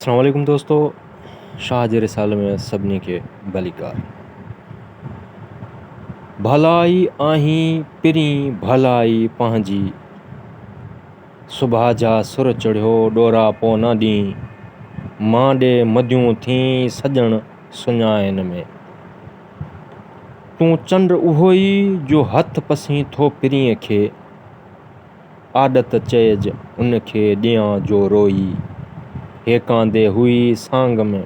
اسلام عليڪم دوستو شاهه جي رسالي ۾ سڀني کي ڀليڪار ڀلائي آهين پرين ڀلائي پنهنجي سڀاء جا سر چڙهيو ڏورا پونا ڏينهن مان ڏي مديون ٿين سڄڻ سڃائن ۾ تون چنڊ اهوئي جو هٿ پسين ٿو پرينء کي آڏت چئج ان کي ڏيان جو روئي، هيڪاندي هئي سانگ ۾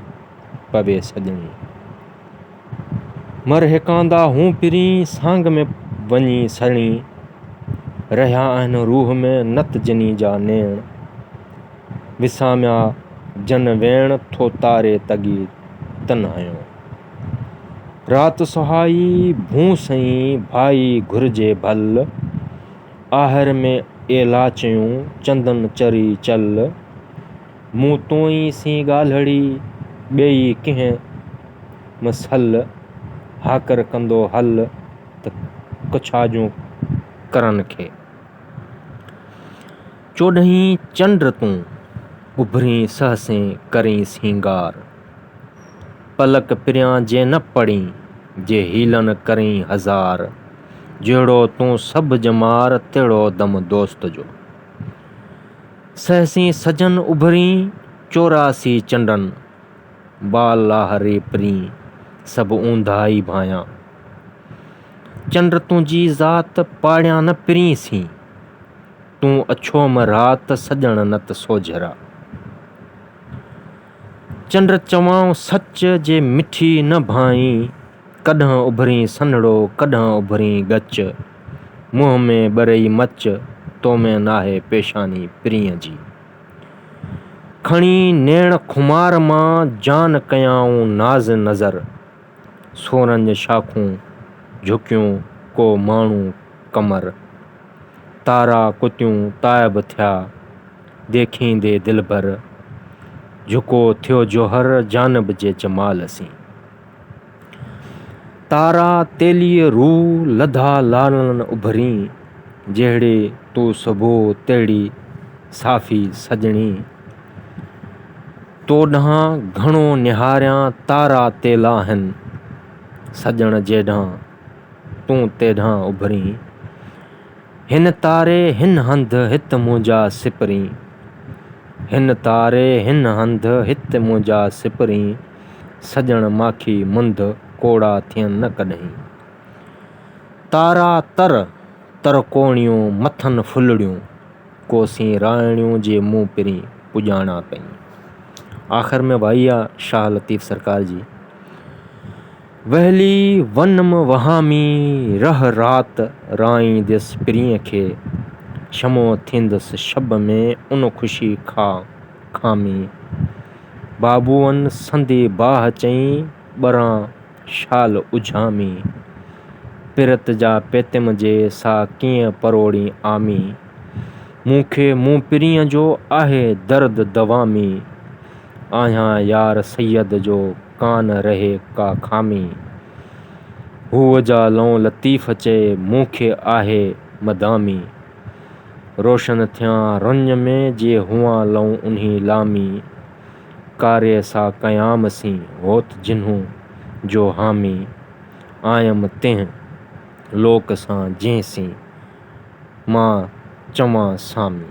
پوي سڄڻي. مر هيڪاندا هون پرين سانگ ۾ وڃي سڙڻي، رهيا آهن روح ۾ نت جني جا نيڻ. وساميا جن ويڻ ٿو تاري تڳي تنهايو. رات سهائي ڀونء سئي ڀائي گهرجي ڀل. آهر ۾ اي لاچيون چندن چري چل، مون توئي سين ڳالهڙي ٻيئي ڪنهن مسل، هاڪر ڪندو هل ته ڪڇاجون ڪرن کي. چوڏهين چنڊ تون، اڀرين سهسين ڪرين سينگار. پلڪ پريان جي نه پڙين، جي حيلن ڪرين هزار. جهڙو تون سڀ ڄمار، تهڙو دم دوست جو. سهسين سجن اڀرين، چوراسي چنڊن، بال لاهه ري پرين، سڀ اونداهه ئي ڀانيان. چنڊ تنهنجي ذات، پاڙيان نه پرين سين. تون اڇوم رات سڄڻ نت سوجهرا. چنڊ چوائون سچ جي مٺي نه ڀانئين. ڪڏهن اڀرين سنهڙو ڪڏهن اڀرين ڳچ. منهن ۾ ٻرئي مچ تو ۾ ناهي پيشاني پرينء جي. کڻي نيڻ خمار مان جان ڪيائون ناز نظر. سونھن شاخون جھڪيون ڪو ماڻھو قمر. تارا ڪتيون تائب ٿيا ديکيندي دلبر. جھڪو ٿيو جوھر جانب جي جمال سين. تارا تيليء روء لڌا لالڻ اڀرين. جهڙي تون سڀو تهڙي صافي سڄڻي. تو ڏانهن گهڻو نهاريان تارا تيلاهن سڄڻ جيڏانهن تون تيڏانهن اڀرين هن تاري هن هنڌ هت منهنجا سپرين هن تاري هن هنڌ هت منهنجا سپرين سڄڻ ماکي منڌ ڪوڙا ٿين نه ڪڏهين تارا تر ترڪوڻيون مٿن ڦلڙيون. ڪوسين راهڻيون جي مون پرين پڄاڻا پئين. آخر ۾ وائي آ شاهه لطيف سرڪار جي. ويلي ونم وهامي رهه رات رائينديس پرينء کي. شمع ٿيندس شب ۾ ان خوشي کاء کامي. بابوئن سندي باهه چئي ٻران. شال اجهامي، پرت جا پيتم جي سا ڪيئن پروڙين عامي، مون کي مون پرينء جو آهي درد دوامي، آهيان يار سيد جو ڪان رهي ڪا خامي، هوء جا لئون لطيف چئي مون کي آهي مدامي، روشن ٿيان رڃ ۾ جي هئان لئون انهي لامي. ڪاري سا قيام سين هوت جنهون جو حامي آيم تنهن لوڪ سان جنهن سين مان چوان سامي.